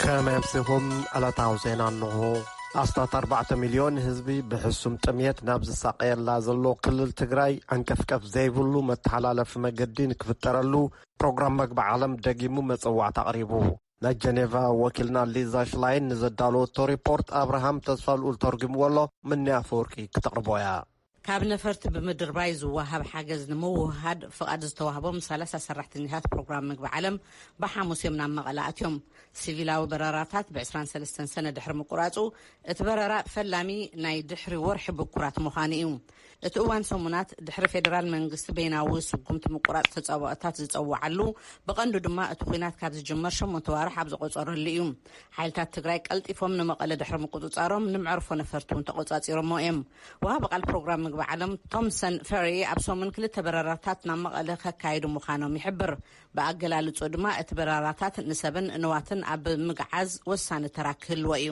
ከመይ ኣምሲኹም ዕለታዊ ዜና እንሆ ኣስታት 4ባዕተ ሚልዮን ህዝቢ ብሕሱም ጥምየት ናብ ዝሳቀየላ ዘሎ ክልል ትግራይ ዓንቀፍቀፍ ዘይብሉ መተሓላለፊ መገዲ ንክፍጠረሉ ፕሮግራም መግቢ ዓለም ደጊሙ መጸዋዕቲ ኣቕሪቡ ናይ ጀኔቫ ወኪልና ሊዛ ሽላይን ንዘዳለወቶ ሪፖርት ኣብርሃም ተስፋልኡል ተርጒምዎ ኣሎ፣ ምኒ ኣፈወርቂ ክተቕርቦ እያ። ካብ ነፈርቲ ብምድርባይ ዝወሃብ ሓገዝ ንምውህሃድ ፍቓድ ዝተዋህቦም ሰላሳ ሰራሕተኛታት ፕሮግራም ምግቢ ዓለም ብሓሙስ እዮም ናብ መቐለ ኣትዮም። ሲቪላዊ በረራታት ብ ዕስራን ሰለስተን ሰነ ድሕሪ ምቁራፁ እቲ በረራ ፈላሚ ናይ ድሕሪ ወርሒ ብኩራት ምዃኑ እዩ። እቲ እዋን ሰሙናት ድሕሪ ፌደራል መንግስቲ በይናዊ ስጉምቲ ምቁራፅ ተፃብኦታት ዝፀወዓሉ ብቐንዱ ድማ እቲ ኹናት ካብ ዝጅመር ሸሞንተ ኣዋርሕ ኣብ ዘቖፀረሉ እዩ። ሓይልታት ትግራይ ቀልጢፎም ንመቐለ ድሕሪ ምቁፅፃሮም ንመዕርፎ ነፈርቲ እውን ተቖፃፂሮምዎ እዮም። ወሃቢ ቃል ፕሮግራም ምግቢ ዓለም ቶምሰን ፈሪ ኣብ ሰሙን ክልተ በረራታት ናብ መቐለ ከካይዱ ምዃኖም ይሕብር። ብኣገላልፅኡ ድማ እቲ በረራታት ንሰብን ንዋትን ኣብ ምግዓዝ ወሳኒ ተራ ክህልዎ እዩ።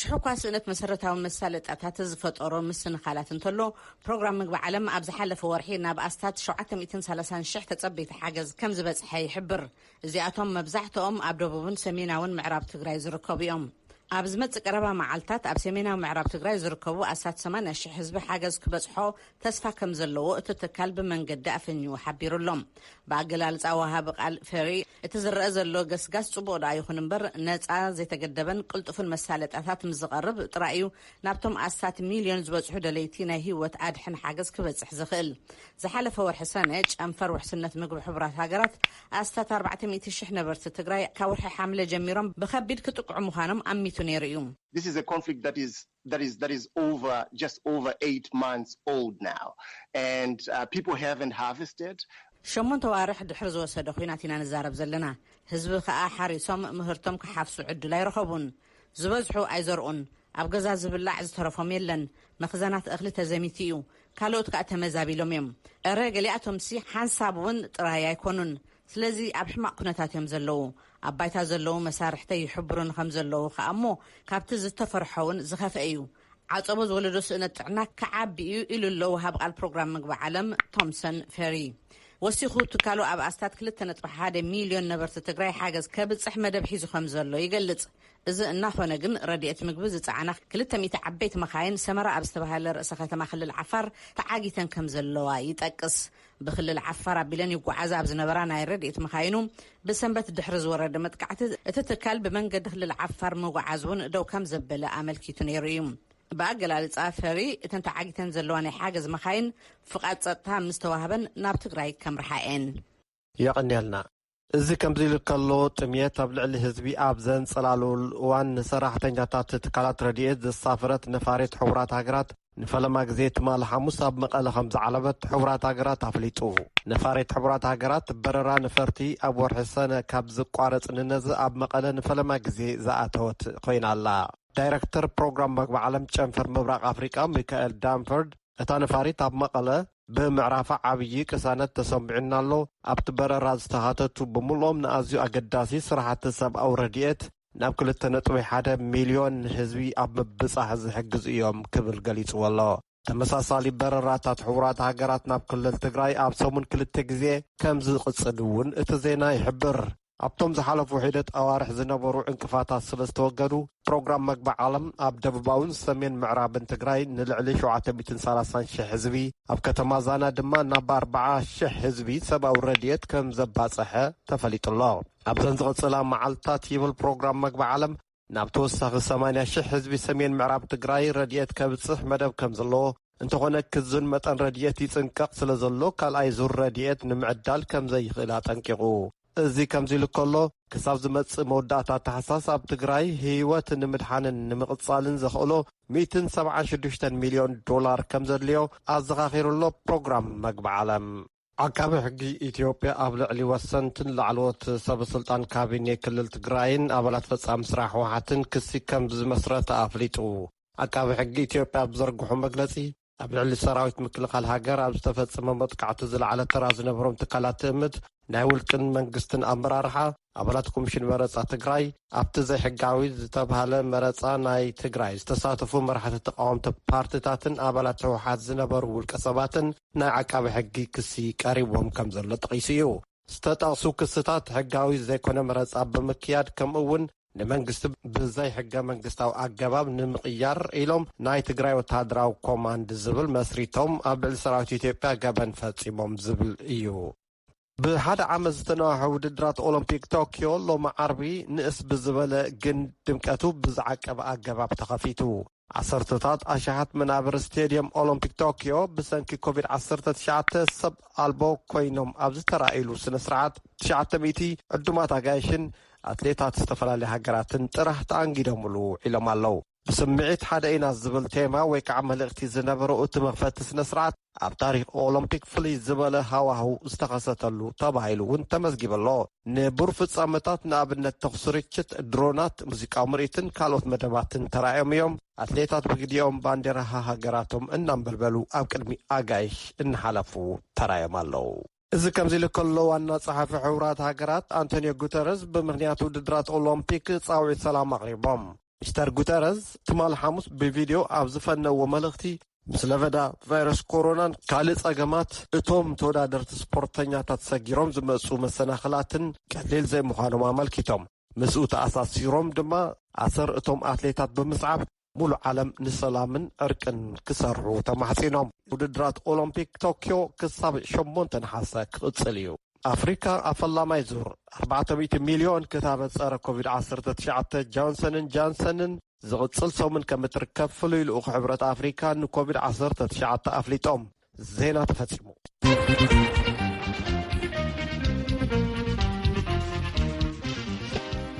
ሽሕ እኳ ስእነት መሰረታዊ መሳለጥያታት ዝፈጠሮ ምስንኻላት እንተሎ፣ ፕሮግራም ምግቢ ዓለም ኣብ ዝሓለፈ ወርሒ ናብ ኣስታት ሸውዓተ ሚእትን ሰላሳን ሽሕ ተጸበይቲ ሓገዝ ከም ዝበጽሐ ይሕብር። እዚኣቶም መብዛሕትኦም ኣብ ደቡብን ሰሜናውን ምዕራብ ትግራይ ዝርከቡ እዮም። ኣብ ዝመጽእ ቀረባ መዓልታት ኣብ ሰሜናዊ ምዕራብ ትግራይ ዝርከቡ ኣስታት ሰማንያ ሽሕ ህዝቢ ሓገዝ ክበጽሖ ተስፋ ከም ዘለዎ እቲ ትካል ብመንገዲ ኣፈኝኡ ሓቢሩ ኣሎ። ብኣገላልጻ ወሃቢ ቃል ፌሪ፣ እቲ ዝረኣ ዘሎ ገስጋስ ጽቡቕ ደኣ ይኹን እምበር፣ ነጻ፣ ዘይተገደበን ቅልጡፍን መሳለጥያታት ምስ ዝቐርብ ጥራይ እዩ ናብቶም ኣስታት ሚልዮን ዝበጽሑ ደለይቲ ናይ ህይወት ኣድሕን ሓገዝ ክበጽሕ ዝኽእል። ዝሓለፈ ወርሒ ሰነ፣ ጨንፈር ውሕስነት ምግቢ ሕቡራት ሃገራት፣ ኣስታት ኣርባዕተ ሚእቲ ሽሕ ነበርቲ ትግራይ ካብ ወርሒ ሓምለ ጀሚሮም ብከቢድ ክጥቅዑ ምዃኖም ኣሚቱ ነይሩ እዩ። This is a conflict that is that is that is over just over eight months old now and people haven't harvested. ሸሞንተ ኣዋርሕ ድሕሪ ዝወሰደ ኹናት ኢና ንዛረብ ዘለና ህዝቢ ኸኣ ሓሪሶም ምህርቶም ክሓፍሱ ዕድል ኣይረኸቡን ዝበዝሑ ኣይዘርኡን ኣብ ገዛ ዝብላዕ ዝተረፎም የለን መኽዘናት እኽሊ ተዘሚቱ እዩ ካልኦት ከኣ ተመዛቢሎም እዮም እረ ገሊኣቶምሲ ሓንሳብ ውን ጥራይ ኣይኮኑን ስለዚ ኣብ ሕማቕ ኩነታት እዮም ዘለዉ። ኣብ ባይታ ዘለዉ መሳርሕተይ ይሕብሩኒ ከም ዘለዉ ከኣ እሞ ካብቲ ዝተፈርሖ'ውን ዝኸፍኤ እዩ። ዓጸቦ ዝወለዶ ስእነት ጥዕና ክዓቢ እዩ ኢሉ ኣሎ ወሃቢ ቃል ፕሮግራም ምግቢ ዓለም ቶምሰን ፌሪ። ወሲኹ ትካሉ ኣብ ኣስታት ክልተ ነጥቢ ሓደ ሚልዮን ነበርቲ ትግራይ ሓገዝ ከብጽሕ መደብ ሒዙ ከም ዘሎ ይገልጽ። እዚ እናኾነ ግን ረድኤት ምግቢ ዝጸዓና ክልተ ሚእቲ ዓበይቲ መኻይን ሰመራ ኣብ ዝተባህለ ርእሰ ከተማ ክልል ዓፋር ተዓጊተን ከም ዘለዋ ይጠቅስ። ብክልል ዓፋር ኣቢለን ይጓዓዛ ኣብ ዝነበራ ናይ ረድኤት መኻይኑ ብሰንበት ድሕሪ ዝወረደ መጥቃዕቲ እቲ ትካል ብመንገዲ ክልል ዓፋር ምጉዓዝ እውን ደው ከም ዘበለ ኣመልኪቱ ነይሩ እዩ። ብኣገላልፃ ፈሪ እተን ተዓጊተን ዘለዋ ናይ ሓገዝ መኻይን ፍቓድ ፀጥታ ምስ ተዋህበን ናብ ትግራይ ከምርሓ እየን። የቐንየልና እዚ ከምዚ ኢሉ ከሎ ጥምየት ኣብ ልዕሊ ህዝቢ ኣብ ዘንጸላልወሉ እዋን ንሰራሕተኛታት ትካላት ረድኤት ዘሳፈረት ነፋሪት ሕቡራት ሃገራት ንፈለማ ግዜ ትማሊ ሓሙስ ኣብ መቐለ ከምዝዓለበት ሕቡራት ሃገራት ኣፍሊጡ። ነፋሪት ሕቡራት ሃገራት በረራ ነፈርቲ ኣብ ወርሒ ሰነ ካብ ዝቋረጽ ንነዘ ኣብ መቐለ ንፈለማ ግዜ ዝኣተወት ኮይና ኣላ። ዳይረክተር ፕሮግራም መግቢ ዓለም ጨንፈር ምብራቕ ኣፍሪቃ ሚካኤል ዳንፈርድ እታ ነፋሪት ኣብ መቐለ ብምዕራፋ ዓብዪ ቅሳነት ተሰሚዑና ኣሎ፣ ኣብቲ በረራ ዝተኻተቱ ብምሉኦም ንኣዝዩ ኣገዳሲ ስራሕቲ ሰብኣዊ ረድኤት ናብ ክልተ ነጥቢ ሓደ ሚልዮን ህዝቢ ኣብ ምብጻሕ ዝሕግዙ እዮም ክብል ገሊጽዎ'ሎ። ተመሳሳሊ በረራታት ሕቡራት ሃገራት ናብ ክልል ትግራይ ኣብ ሰሙን ክልተ ግዜ ከምዝቕጽል'ውን እቲ ዜና ይሕብር። ኣብቶም ዝሓለፉ ሒደት ኣዋርሕ ዝነበሩ ዕንቅፋታት ስለ ዝተወገዱ፣ ፕሮግራም መግቢ ዓለም ኣብ ደቡባውን ሰሜን ምዕራብን ትግራይ ንልዕሊ ሸውዓተ ሚእትን ሰላሳን ሽሕ ህዝቢ፣ ኣብ ከተማ ዛና ድማ ናብ ኣርባዓ ሽሕ ህዝቢ ሰብኣዊ ረድኤት ከም ዘባፀሐ ተፈሊጡ'ሎ። ኣብዘን ዝቕፅላ መዓልትታት ይብል ፕሮግራም መግቢ ዓለም፣ ናብ ተወሳኺ ሰማንያ ሽሕ ህዝቢ ሰሜን ምዕራብ ትግራይ ረድኤት ከብፅሕ መደብ ከምዘለዎ፣ እንተኾነ ክዝን መጠን ረድኤት ይፅንቀቕ ስለዘሎ ካልኣይ ዙር ረድኤት ንምዕዳል ከምዘይኽእል ኣጠንቂቑ። እዚ ከምዚሉ ከሎ፣ ክሳብ ዝመፅእ መወዳእታ ታሕሳስ ኣብ ትግራይ ህይወት ንምድሓንን ንምቕፃልን ዘኽእሎ ሚእትን ሰብዓን ሽዱሽተን ሚልዮን ዶላር ከምዘድልዮ ኣዘኻኺሩ'ሎ ፕሮግራም መግቢ ዓለም። ዓቃቢ ሕጊ ኢትዮጵያ ኣብ ልዕሊ ወሰንትን ላዕለዎት ሰበ ስልጣን ካቢኔ ክልል ትግራይን ኣባላት ፈፃሚ ስራሕ ህወሓትን ክሲ ከምዝመስረተ ኣፍሊጡ። ዓቃቢ ሕጊ ኢትዮጵያ ኣብ ዝዘርግሖ መግለፂ፣ ኣብ ልዕሊ ሰራዊት ምክልኻል ሃገር ኣብ ዝተፈፀመ መጥቃዕቲ ዝለዓለ ተራ ዝነበሮም ትካላት ትእምት፣ ናይ ውልቅን መንግስትን ኣመራርሓ፣ ኣባላት ኮሚሽን መረፃ ትግራይ ኣብቲ ዘይሕጋዊ ዝተብሃለ መረፃ ናይ ትግራይ ዝተሳተፉ መራሕቲ ተቃወምቲ ፓርቲታትን ኣባላት ህወሓት ዝነበሩ ውልቀ ሰባትን ናይ ዓቃቢ ሕጊ ክሲ ቀሪቦም ከም ዘሎ ጠቒሱ እዩ። ዝተጠቕሱ ክስታት ሕጋዊ ዘይኮነ መረፃ ብምክያድ ከምኡ እውን ንመንግስቲ ብዘይ ሕገ መንግስታዊ ኣገባብ ንምቕያር ኢሎም ናይ ትግራይ ወተሃደራዊ ኮማንድ ዝብል መስሪቶም ኣብ ልዕሊ ሰራዊት ኢትዮጵያ ገበን ፈፂሞም ዝብል እዩ። ብሓደ ዓመት ዝተነዋሐ ውድድራት ኦሎምፒክ ቶክዮ ሎሚ ዓርቢ ንእስ ብዝበለ ግን ድምቀቱ ብዝዓቀበ ኣገባብ ተኸፊቱ። ዓሰርተታት ኣሽሓት መናብር ስቴድየም ኦሎምፒክ ቶክዮ ብሰንኪ ኮቪድ ዓሰርተ ትሽዓተ ሰብ ኣልቦ ኮይኖም ኣብ ዝተራእይሉ ስነ ስርዓት ትሽዓተ ሚእቲ ዕዱማት ኣጋይሽን ኣትሌታት ዝተፈላለዩ ሃገራትን ጥራሕ ተኣንጊዶምሉ ውዒሎም ኣለው። ብስምዒት ሓደ ኢና ዝብል ቴማ ወይ ከዓ መልእኽቲ ዝነበሮ እቲ መኽፈቲ ስነ ስርዓት ኣብ ታሪኽ ኦሎምፒክ ፍልይ ዝበለ ሃዋህው ዝተኸሰተሉ ተባሂሉ እውን ተመዝጊቡ ኣሎ። ንቡር ፍጻመታት ንኣብነት ተኹሲ ርችት፣ ድሮናት፣ ሙዚቃዊ ምርኢትን ካልኦት መደባትን ተራእዮም እዮም። ኣትሌታት ብግዲኦም ባንዴራ ሃሃገራቶም እናንበልበሉ ኣብ ቅድሚ ኣጋይሽ እናሓለፉ ተራእዮም ኣለዉ። እዚ ከምዚ ኢሉ ከሎ ዋና ጸሓፊ ሕቡራት ሃገራት ኣንቶንዮ ጉተረዝ ብምኽንያት ውድድራት ኦሎምፒክ ጻውዒት ሰላም ኣቕሪቦም። ሚስተር ጉተረዝ ትማል ሓሙስ ብቪድዮ ኣብ ዝፈነዎ መልእኽቲ ምስ ለበዳ ቫይረስ ኮሮናን ካልእ ጸገማት እቶም ተወዳደርቲ ስፖርተኛታት ሰጊሮም ዝመጽኡ መሰናኽላትን ቀሊል ዘይምዃኖም ኣመልኪቶም። ምስኡ ተኣሳሲሮም ድማ ኣሰር እቶም ኣትሌታት ብምስዓብ ሙሉእ ዓለም ንሰላምን ዕርቅን ክሰርሑ ተማሕጺኖም። ውድድራት ኦሎምፒክ ቶክዮ ክሳብ ሸሞንተ ነሓሰ ክቕጽል እዩ። ኣፍሪካ ኣብ ፈላማይ ዙር ኣርባዕተ ሚእቲ ሚልዮን ክታበት ፀረ ኮቪድ ዓሰርተ ትሽዓተ ጆንሰንን ጃንሰንን ዝቕፅል ሰሙን ከምትርከብ ፍሉይ ልኡኽ ሕብረት ኣፍሪካ ንኮቪድ ዓሰርተ ትሽዓተ ኣፍሊጦም። ዜና ተፈጺሙ።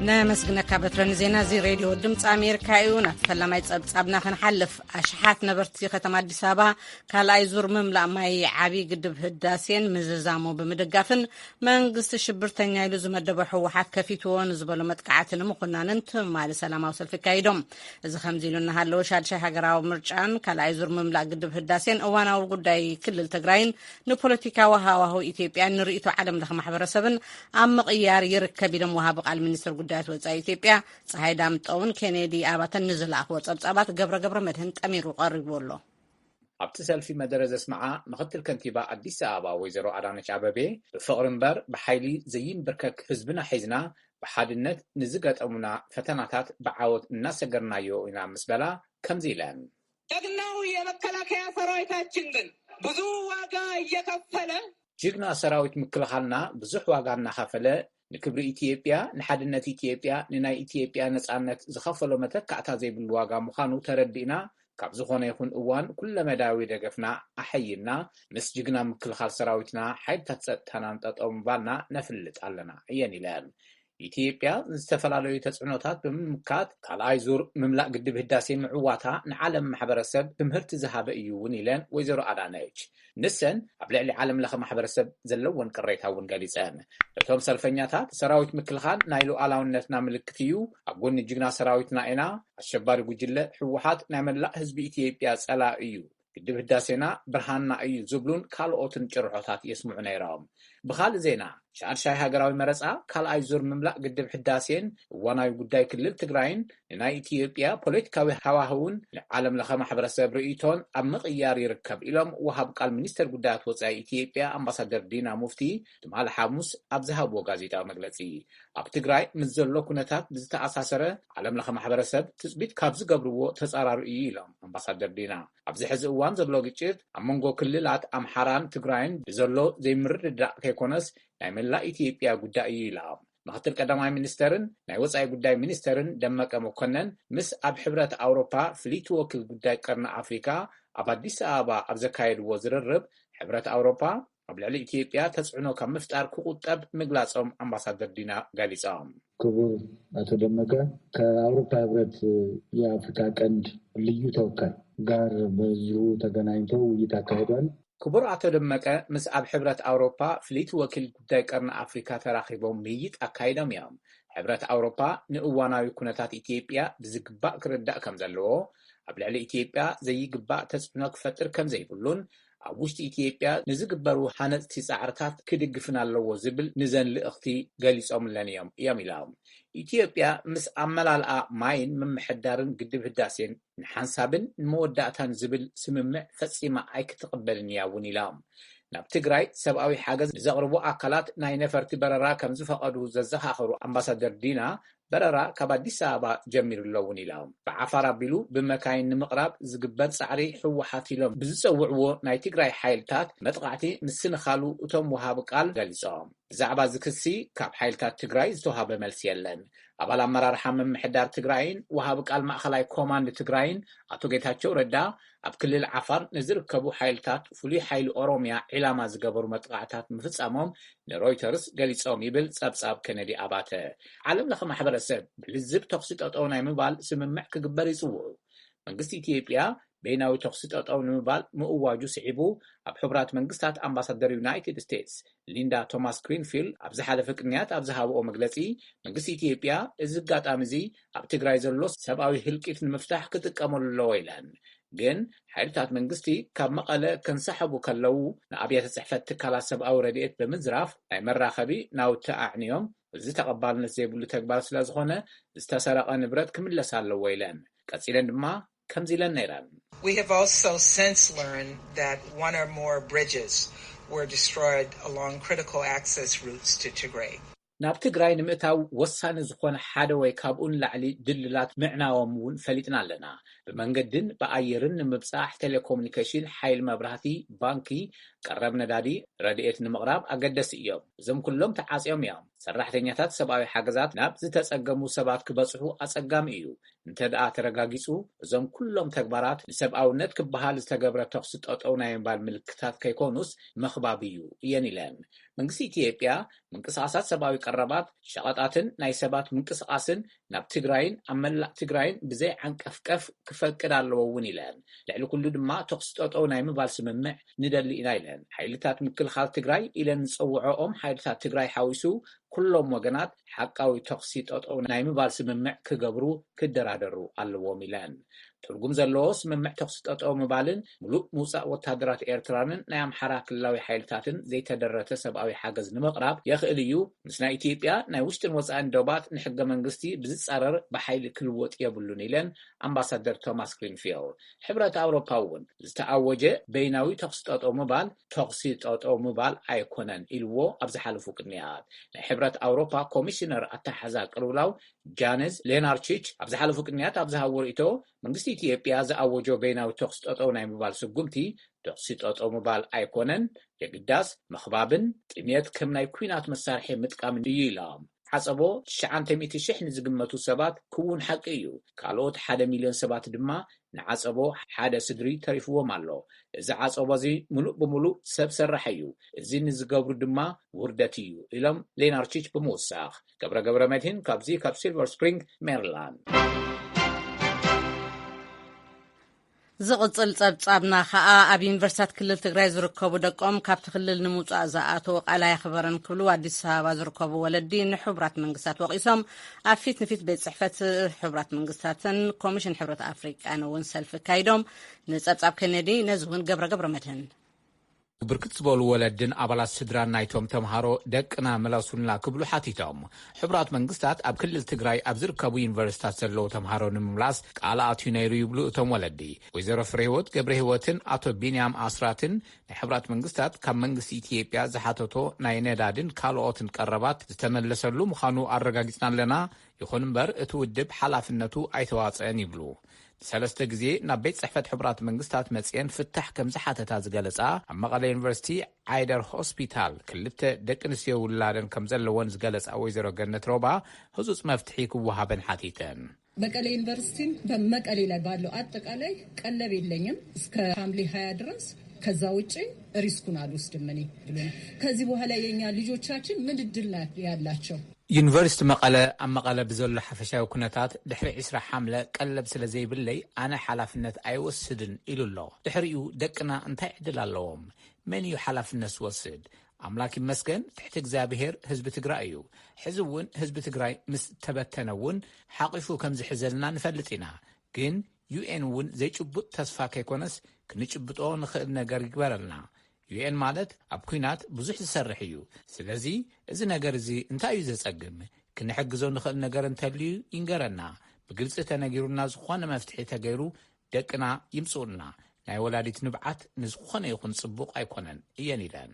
ነመስግነካ በትረ ንዜና እዚ ሬድዮ ድምፂ ኣሜሪካ እዩ ናብቲ ፈላማይ ፀብፃብና ክንሓልፍ ኣሽሓት ነበርቲ ከተማ ኣዲስ ኣበባ ካልኣይ ዙር ምምላእ ማይ ዓብዪ ግድብ ህዳሴን ምዝዛሙ ብምድጋፍን መንግስቲ ሽብርተኛ ኢሉ ዝመደበ ህወሓት ከፊትዎ ንዝበሎ መጥቃዕቲ ንምኹናንን ትማሊ ሰላማዊ ሰልፊ ኣካይዶም እዚ ከምዚ ኢሉ እናሃለወ ሻድሻይ ሃገራዊ ምርጫን ካልኣይ ዙር ምምላእ ግድብ ህዳሴን እዋናዊ ጉዳይ ክልል ትግራይን ንፖለቲካዊ ሃዋህው ኢትዮጵያን ንርእይቶ ዓለም ለኸ ማሕበረሰብን ኣብ ምቕያር ይርከብ ኢሎም ወሃቢ ቃል ሚኒስትር ጉዳያት ወፃኢ ኢትዮጵያ ፀሃይ ዳምጠውን ኬኔዲ ኣባተን ንዝለኣኽዎ ፀብፃባት ገብረ ገብረ መድህን ጠሚሩ ቀሪቡ ኣሎ ኣብቲ ሰልፊ መደረ ዘስምዓ ምኽትል ከንቲባ ኣዲስ ኣበባ ወይዘሮ ኣዳነች ኣበቤ፣ ብፍቕሪ እምበር ብሓይሊ ዘይምብርከክ ህዝብና ሒዝና ብሓድነት ንዝገጠሙና ፈተናታት ብዓወት እናሰገርናዮ ኢና ምስ በላ ከምዚ ኢለን። ጀግናው የመከላከያ ሰራዊታችን ግን ብዙ ዋጋ እየከፈለ። ጅግና ሰራዊት ምክልኻልና ብዙሕ ዋጋ እናኸፈለ ንክብሪ ኢትዮጵያ፣ ንሓድነት ኢትዮጵያ፣ ንናይ ኢትዮጵያ ነጻነት ዝኸፈሎ መተካእታ ዘይብሉ ዋጋ ምዃኑ ተረዲእና ካብ ዝኾነ ይኹን እዋን ኩለመዳያዊ ደገፍና ኣሐይልና ምስ ጅግና ምክልኻል ሰራዊትና ሓይልታት ጸጥታናን ጠጠው ምባልና ነፍልጥ ኣለና እየን ኢለን። ኢትዮጵያ ዝተፈላለዩ ተፅዕኖታት ብምምካት ካልኣይ ዙር ምምላእ ግድብ ህዳሴ ምዕዋታ ንዓለም ማሕበረሰብ ትምህርቲ ዝሃበ እዩ እውን ኢለን ወይዘሮ ኣዳነች። ንሰን ኣብ ልዕሊ ዓለም ለኸ ማሕበረሰብ ዘለወን ቅሬታ እውን ገሊፀን። እቶም ሰልፈኛታት ሰራዊት ምክልኻል ናይ ሉኣላውነትና ምልክት እዩ፣ ኣብ ጎኒ ጅግና ሰራዊትና ኢና፣ ኣሸባሪ ጉጅለ ህወሓት ናይ መላእ ህዝቢ ኢትዮጵያ ፀላኢ እዩ፣ ግድብ ህዳሴና ብርሃንና እዩ ዝብሉን ካልኦትን ጭርሖታት የስምዑ ነይሮም። ብኻልእ ዜና ሻድሻይ ሃገራዊ መረፃ፣ ካልኣይ ዙር ምምላእ ግድብ ሕዳሴን እዋናዊ ጉዳይ ክልል ትግራይን ንናይ ኢትዮጵያ ፖለቲካዊ ሃዋህውን ንዓለም ለኸ ማሕበረሰብ ርእይቶን ኣብ ምቕያር ይርከብ ኢሎም ወሃብ ቃል ሚኒስቴር ጉዳያት ወፃኢ ኢትዮጵያ ኣምባሳደር ዲና ሙፍቲ ትማሊ ሓሙስ ኣብ ዝሃብዎ ጋዜጣዊ መግለፂ። ኣብ ትግራይ ምስ ዘሎ ኩነታት ብዝተኣሳሰረ ዓለም ለኸ ማሕበረሰብ ትፅቢት ካብ ዝገብርዎ ተፃራሪ እዩ ኢሎም ኣምባሳደር ዲና። ኣብዚ ሕዚ እዋን ዘሎ ግጭት ኣብ መንጎ ክልላት ኣምሓራን ትግራይን ብዘሎ ዘይምርድዳእ ከይኮነስ ናይ መላእ ኢትዮጵያ ጉዳይ እዩ ኢላ። ምክትል ቀዳማይ ሚኒስተርን ናይ ወፃኢ ጉዳይ ሚኒስተርን ደመቀ መኮነን ምስ ኣብ ሕብረት ኣውሮፓ ፍልይቲ ወኪል ጉዳይ ቀርኒ ኣፍሪካ ኣብ ኣዲስ ኣበባ ኣብ ዘካየድዎ ዝርርብ ሕብረት ኣውሮፓ ኣብ ልዕሊ ኢትዮጵያ ተፅዕኖ ካብ ምፍጣር ክቑጠብ ምግላፆም ኣምባሳደር ዲና ገሊፆም። ክቡር ኣቶ ደመቀ ከኣውሮፓ ህብረት የኣፍሪካ ቀንድ ልዩ ተወካይ ጋር በዚሁ ተገናኝቶ ውይይት ኣካሂዷል። ክቡር ኣቶ ደመቀ ምስ ኣብ ሕብረት ኣውሮፓ ፍልይቲ ወኪል ጉዳይ ቀርኒ ኣፍሪካ ተራኺቦም ምይይጥ ኣካይዶም እዮም። ሕብረት ኣውሮፓ ንእዋናዊ ኩነታት ኢትዮጵያ ብዝግባእ ክርዳእ ከምዘለዎ፣ ኣብ ልዕሊ ኢትዮጵያ ዘይግባእ ተፅዕኖ ክፈጥር ከምዘይብሉን ኣብ ውሽጢ ኢትዮጵያ ንዝግበሩ ሃነፅቲ ፃዕርታት ክድግፍን ኣለዎ ዝብል ንዘን ልእኽቲ ገሊፆምለን እዮም እዮም ኢላ። ኢትዮጵያ ምስ ኣመላልኣ ማይን ምምሕዳርን ግድብ ህዳሴን ንሓንሳብን ንመወዳእታን ዝብል ስምምዕ ፈፂማ ኣይክትቕበልን እያ እውን ኢላ። ናብ ትግራይ ሰብኣዊ ሓገዝ ንዘቕርቡ ኣካላት ናይ ነፈርቲ በረራ ከምዝፈቐዱ ዘዘኻኸሩ ኣምባሳደር ዲና፣ በረራ ካብ ኣዲስ ኣበባ ጀሚሩ'ሎ እውን ኢሎም። ብዓፋር ኣቢሉ ብመካይን ንምቕራብ ዝግበር ፃዕሪ ህወሓት ኢሎም ብዝፀውዕዎ ናይ ትግራይ ሓይልታት መጥቓዕቲ ምስንኻሉ እቶም ወሃቢ ቃል ገሊፆም። ብዛዕባ እዚ ክሲ ካብ ሓይልታት ትግራይ ዝተውሃበ መልሲ የለን። ኣባል ኣመራርሓ ምምሕዳር ትግራይን ወሃቢ ቃል ማእኸላይ ኮማንድ ትግራይን ኣቶ ጌታቸው ረዳ ኣብ ክልል ዓፋር ንዝርከቡ ሓይልታት ፍሉይ ሓይሊ ኦሮሚያ ዒላማ ዝገበሩ መጥቓዕታት ምፍፃሞም ንሮይተርስ ገሊፆም ይብል ፀብፃብ ኬነዲ ኣባተ። ዓለም ለኸ ማሕበረሰብ ብልዝብ ተኹሲ ጠጠው ናይ ምባል ስምምዕ ክግበር ይፅውዑ። መንግስቲ ኢትዮጵያ በይናዊ ተኹሲ ጠጠው ንምባል ምእዋጁ ስዒቡ ኣብ ሕቡራት መንግስታት ኣምባሳደር ዩናይትድ ስቴትስ ሊንዳ ቶማስ-ግሪንፊልድ ኣብ ዝሓለፈ ቅንያት ኣብ ዝሃበኦ መግለጺ፣ መንግስቲ ኢትዮጵያ እዚ ኣጋጣሚ'ዚ ኣብ ትግራይ ዘሎ ሰብኣዊ ህልቂት ንምፍታሕ ክጥቀመሉ ኣለዎ ኢለን። ግን ሓይልታት መንግስቲ ካብ መቐለ ከንሳሕቡ ከለዉ ንኣብያተ ጽሕፈት ትካላት ሰብኣዊ ረድኤት ብምዝራፍ ናይ መራኸቢ ናውቲ ኣዕንዮም፣ እዚ ተቐባልነት ዘይብሉ ተግባር ስለዝኾነ ዝተሰረቐ ንብረት ክምለስ ኣለዎ ኢለን። ቀጺለን ድማ ከምዚ ኢለን ነይረን። We have also since learned that one or more bridges were destroyed along critical access routes to Tigray. ናብ ትግራይ ንምእታው ወሳኒ ዝኾነ ሓደ ወይ ካብኡ ንላዕሊ ድልድላት ምዕናዎም እውን ፈሊጥና ኣለና። ብመንገዲን ብኣየርን ንምብጻሕ፣ ቴሌኮሙኒኬሽን፣ ሓይሊ መብራህቲ፣ ባንኪ፣ ቀረብ ነዳዲ፣ ረድኤት ንምቕራብ ኣገደሲ እዮም። እዞም ኩሎም ተዓጽዮም እዮም። ሰራሕተኛታት ሰብኣዊ ሓገዛት ናብ ዝተጸገሙ ሰባት ክበጽሑ ኣጸጋሚ እዩ። እንተድኣ ተረጋጊጹ፣ እዞም ኩሎም ተግባራት ንሰብኣውነት ክበሃል ዝተገብረ ተኹሲ ጠጠው ናይ ምባል ምልክታት ከይኮኑስ መኽባብ እዩ እየን ኢለን። መንግስቲ ኢትዮጵያ ምንቅስቓሳት ሰብኣዊ ቀረባት፣ ሸቐጣትን ናይ ሰባት ምንቅስቓስን ናብ ትግራይን ኣብ መላእ ትግራይን ብዘይዓንቀፍቀፍ ክፈቅድ ኣለዎ እውን ኢለን። ልዕሊ ኩሉ ድማ ተኹሲ ጠጠው ናይ ምባል ስምምዕ ንደሊ ኢና ኢለን። ሓይልታት ምክልኻል ትግራይ ኢለን ዝፀውዐኦም ሓይልታት ትግራይ ሓዊሱ ኩሎም ወገናት ሓቃዊ ተኹሲ ጠጠው ናይ ምባል ስምምዕ ክገብሩ ክደራደሩ ኣለዎም ኢለን። ትርጉም ዘለዎ ስምምዕ ተኹሲ ጠጠው ምባልን ሙሉእ ምውፃእ ወታደራት ኤርትራንን ናይ ኣምሓራ ክልላዊ ሓይልታትን ዘይተደረተ ሰብኣዊ ሓገዝ ንምቕራብ የኽእል እዩ። ምስ ናይ ኢትዮጵያ ናይ ውሽጥን ወፃኢን ዶባት ንሕገ መንግስቲ ብዝፃረር ብሓይሊ ክልወጥ የብሉን ኢለን ኣምባሳደር ቶማስ ግሪንፊልድ። ሕብረት ኣውሮፓ እውን ዝተኣወጀ በይናዊ ተኹሲ ጠጠው ምባል ተኹሲ ጠጠው ምባል ኣይኮነን ኢልዎ ኣብ ዝሓለፉ ቅንያት። ናይ ሕብረት ኣውሮፓ ኮሚሽነር ኣተሓሕዛ ቅልውላው ጃነዝ ሌናርቺች ኣብ ዝሓለፉ ቅንያት ኣብ ዝሃብዎ ርእይቶ መንግስቲ ኢትዮጵያ ዝኣወጆ በይናዊ ተኹሲ ጠጠው ናይ ምባል ስጉምቲ ተኹሲ ጠጠው ምባል ኣይኮነን የግዳስ፣ ምኽባብን ጥምየት ከም ናይ ኲናት መሳርሒ ምጥቃምን እዩ ኢላ። ሓጸቦ ትሽዓንተ ሚእቲ ሽሕ ንዝግመቱ ሰባት ክዉን ሓቂ እዩ፣ ካልኦት ሓደ ሚልዮን ሰባት ድማ ንዓጸቦ ሓደ ስድሪ ተሪፍዎም ኣሎ። እዚ ዓጸቦ እዚ ምሉእ ብምሉእ ሰብ ሰራሕ እዩ፣ እዚ ንዝገብሩ ድማ ውርደት እዩ ኢሎም ሌናርቺች ብምውሳኽ። ገብረ ገብረመድሂን ካብዚ ካብ ሲልቨር ስፕሪንግ ሜሪላንድ። ዝቕጽል ጸብጻብና ከኣ ኣብ ዩኒቨርሲታት ክልል ትግራይ ዝርከቡ ደቆም ካብቲ ክልል ንምውጻእ ዝኣተዉ ቃል ኣየኽበረን ክብሉ ኣዲስ ኣበባ ዝርከቡ ወለዲ ንሕቡራት መንግስታት ወቒሶም። ኣብ ፊት ንፊት ቤት ጽሕፈት ሕቡራት መንግስታትን ኮሚሽን ሕብረት ኣፍሪቃን እውን ሰልፊ ኣካይዶም። ንጸብጻብ ኬኔዲ ነዚ እውን ገብረ ገብረ መድህን ብርክት ዝበሉ ወለድን ኣባላት ስድራን ናይቶም ተምሃሮ ደቅና ምለሱልና ክብሉ ሓቲቶም። ሕቡራት መንግስታት ኣብ ክልል ትግራይ ኣብ ዝርከቡ ዩኒቨርሲታት ዘለዉ ተምሃሮ ንምምላስ ቃል ኣትዩ ነይሩ ይብሉ እቶም ወለዲ። ወይዘሮ ፍሬህይወት ገብረህይወትን ኣቶ ቢንያም ኣስራትን ናይ ሕቡራት መንግስታት ካብ መንግስቲ ኢትዮጵያ ዝሓተቶ ናይ ነዳድን ካልኦትን ቀረባት ዝተመለሰሉ ምዃኑ ኣረጋጊፅና ኣለና፣ ይኹን እምበር እቲ ውድብ ሓላፍነቱ ኣይተዋፀእን ይብሉ። ሰለስተ ግዜ ናብ ቤት ጽሕፈት ሕቡራት መንግስታት መጺኤን ፍታሕ ከም ዝሓተታ ዝገለጻ ኣብ መቐለ ዩኒቨርሲቲ ዓይደር ሆስፒታል ክልተ ደቂ ኣንስትዮ ውላደን ከም ዘለወን ዝገለጻ ወይዘሮ ገነት ሮባ ህጹጽ መፍትሒ ክወሃበን ሓቲተን። መቀሌ ዩኒቨርሲቲን በመቀሌ ላይ ባለው ኣጠቃላይ ቀለብ የለኝም እስከ ሀምሌ ሀያ ድረስ ከዛ ውጪ ሪስኩን አልወስድም እኔ ብሎናል። ከዚህ በኋላ የኛ ልጆቻችን ምን እድል ያላቸው? ዩኒቨርሲቲ መቐለ ኣብ መቐለ ብዘሎ ሓፈሻዊ ኩነታት ድሕሪ ዕስራ ሓምለ ቀለብ ስለ ዘይብለይ ኣነ ሓላፍነት ኣይወስድን ኢሉ ኣሎ። ድሕሪኡ ደቅና እንታይ ዕድል ኣለዎም? መን እዩ ሓላፍነት ዝወስድ? ኣምላክ ይመስገን ትሕቲ እግዚኣብሄር ህዝቢ ትግራይ እዩ። ሕዚ እውን ህዝቢ ትግራይ ምስ ተበተነ እውን ሓቒፉ ከም ዝሕዘልና ንፈልጥ ኢና። ግን UN እውን ዘይጭቡጥ ተስፋ ከይኮነስ ክንጭብጦ ንኽእል ነገር ይግበረልና። UN ማለት ኣብ ኩናት ብዙሕ ዝሰርሕ እዩ ስለዚ እዚ ነገር እዚ እንታይ እዩ ዘጸግም ክንሕግዞ ንኽእል ነገር እንተልዩ ይንገረና ብግልጺ ተነጊሩና ዝኾነ መፍትሒ ተገይሩ ደቅና ይምጽኡልና ናይ ወላዲት ንብዓት ንዝኾነ ይኹን ጽቡቕ ኣይኮነን እየን ኢለን።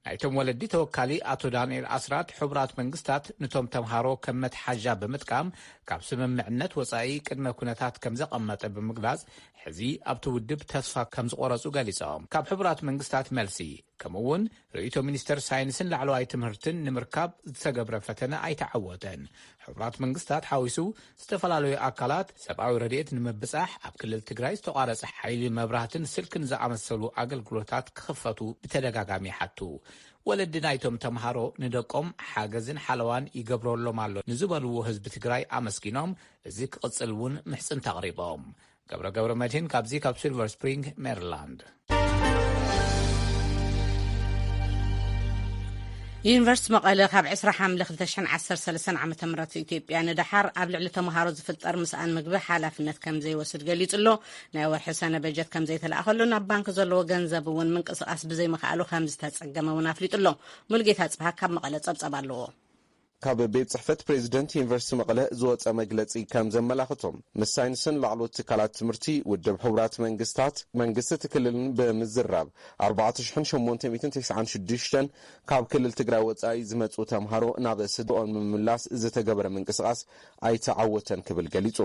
ናይቶም ወለዲ ተወካሊ ኣቶ ዳንኤል ኣስራት ሕቡራት መንግስታት ንቶም ተምሃሮ ከም መትሓዣ ብምጥቃም ካብ ስምምዕነት ወጻኢ ቅድመ ኩነታት ከም ዘቐመጠ ብምግላጽ ሕዚ ኣብቲ ውድብ ተስፋ ከም ዝቖረጹ ገሊጾም። ካብ ሕቡራት መንግስታት መልሲ ከምኡ'ውን ርእይቶ ሚኒስተር ሳይንስን ላዕለዋይ ትምህርትን ንምርካብ ዝተገብረ ፈተነ ኣይተዓወተን። ሕቡራት መንግስታት ሓዊሱ ዝተፈላለዩ ኣካላት ሰብኣዊ ረድኤት ንምብጻሕ ኣብ ክልል ትግራይ ዝተቋረጸ ሓይሊ መብራህትን ስልክን ዝኣመሰሉ ኣገልግሎታት ክኽፈቱ ብተደጋጋሚ ይሓቱ። ወለዲ ናይቶም ተምሃሮ ንደቆም ሓገዝን ሓለዋን ይገብረሎም ኣሎ ንዝበልዎ ህዝቢ ትግራይ ኣመስጊኖም እዚ ክቕጽል እውን ምሕጽንታ ኣቕሪቦም። ገብረ ገብረመድህን ካብዚ ካብ ሲልቨር ስፕሪንግ ሜሪላንድ። ዩኒቨርስቲ መቐለ ካብ 20 ሓምለ 2013 ዓ ም ኢትዮጵያ ንደሓር ኣብ ልዕሊ ተምሃሮ ዝፍጠር ምስኣን ምግቢ ሓላፍነት ከም ዘይወስድ ገሊጹ ኣሎ ናይ ወርሒ ሰነ በጀት ከም ዘይተላእኸሉ ናብ ባንኪ ዘለዎ ገንዘብ እውን ምንቅስቓስ ብዘይምኽኣሉ ከም ዝተጸገመ እውን ኣፍሊጡ ኣሎ ሙልጌታ ጽብሃ ካብ መቐለ ጸብጸብ ኣለዎ ካብ ቤት ፅሕፈት ፕሬዚደንት ዩኒቨርሲቲ መቐለ ዝወፀ መግለፂ ከም ዘመላኽቶ፣ ምስ ሳይንስን ላዕለዎት ትካላት ትምህርቲ፣ ውድብ ሕቡራት መንግስታት፣ መንግስቲ እቲ ክልልን ብምዝራብ ኣርባዕተ ሽሕን ሸሞንተ ሚእትን ተስዓን ሽዱሽተን ካብ ክልል ትግራይ ወፃኢ ዝመፅኡ ተምሃሮ ናብ ስድርኦም ንምምላስ ዝተገበረ ምንቅስቓስ ኣይተዓወተን ክብል ገሊጹ።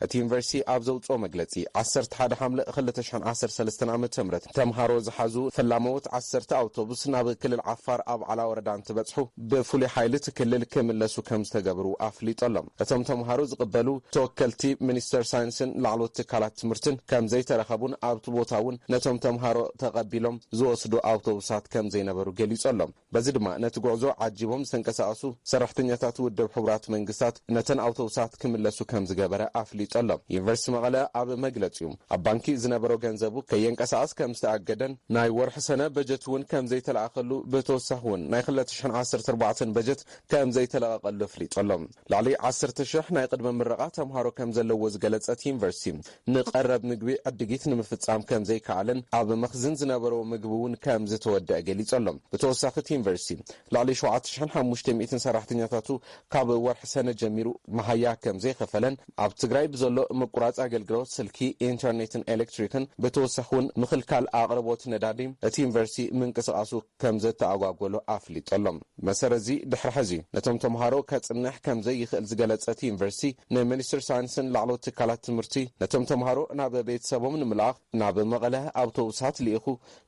እቲ ዩኒቨርሲቲ ኣብ ዘውጽኦ መግለጺ፣ ዓሰርተ ሓደ ሓምለ ክልተ ሽሕን ዓሰርተ ሰለስተን ዓመተ ምህረት ተምሃሮ ዝሓዙ ፈላመዎት ዓሰርተ ኣውቶቡስ ናብ ክልል ዓፋር ኣብዓላ ወረዳ እንትበጽሑ ብፍሉይ ሓይሊ እቲ ክልል ክምለሱ ከምዝተገብሩ ኣፍሊጡ ኣሎ። እቶም ተምሃሮ ዝቕበሉ ተወከልቲ ሚኒስተር ሳይንስን ላዕለዎት ትካላት ትምህርትን ከምዘይተረኸቡን ኣብቲ ቦታ እውን ነቶም ተምሃሮ ተቐቢሎም ዝወስዱ ኣውቶቡሳት ከምዘይነበሩ ገሊጹ ኣሎ። በዚ ድማ ነቲ ጉዕዞ ዓጂቦም ዝተንቀሳቐሱ ሰራሕተኛታት ውድብ ሕቡራት መንግስታት ነተን ኣውቶቡሳት ክምለሱ ከምዝገበረ ኣፍሊጡ ኣሎ። ዩኒቨርሲቲ መቐለ ኣብ መግለፂኡ ኣብ ባንኪ ዝነበሮ ገንዘቡ ከየንቀሳቐስ ከምዝተኣገደን ናይ ወርሒ ሰነ በጀት እውን ከምዘይተለኣኸሉ ብተወሳኺ እውን ናይ ክልተ ሽሕን ዓሰርተ ኣርባዕተን በጀት ከምዘይተለቐቐሉ ኣፍሊጡ ኣሎ። ልዕሊ ዓሰርተ ሽሕ ናይ ቕድመ ምረቓ ተምሃሮ ከምዘለዉዎ ዝገለፀ እቲ ዩኒቨርሲቲ፣ ንቐረብ ምግቢ ዕድጊት ንምፍፃም ከምዘይከኣለን ኣብ መኽዝን ዝነበሮ ምግቢ እውን ከምዝተወደኣ ገሊፁ ኣሎ። ብተወሳኺ እቲ ዩኒቨርሲቲ ልዕሊ ሸውዓተ ሽሕን ሓሙሽተ ሚእትን ሰራሕተኛታቱ ካብ ወርሒ ሰነ ጀሚሩ መሃያ ከምዘይኸፈለን ኣብ ትግራይ ብዘሎ ምቁራፅ ኣገልግሎት ስልኪ፣ ኢንተርኔትን ኤሌክትሪክን ብተወሳኺ እውን ምኽልካል ኣቕርቦት ነዳዲ እቲ ዩኒቨርሲቲ ምንቅስቓሱ ከምዘተኣጓጎሎ ኣፍሊጡ ኣሎ። ብመሰረት'ዚ ድሕሪ ሕዚ ነቶም ተምሃሮ ከጽንሕ ከምዘይኽእል ዝገለጸ እቲ ዩኒቨርሲቲ፣ ንሚኒስትሪ ሳይንስን ላዕለዎት ትካላት ትምህርቲ ነቶም ተምሃሮ ናብ ቤተሰቦም ንምልኣኽ ናብ መቐለ ኣውቶቡሳት ልኢኹ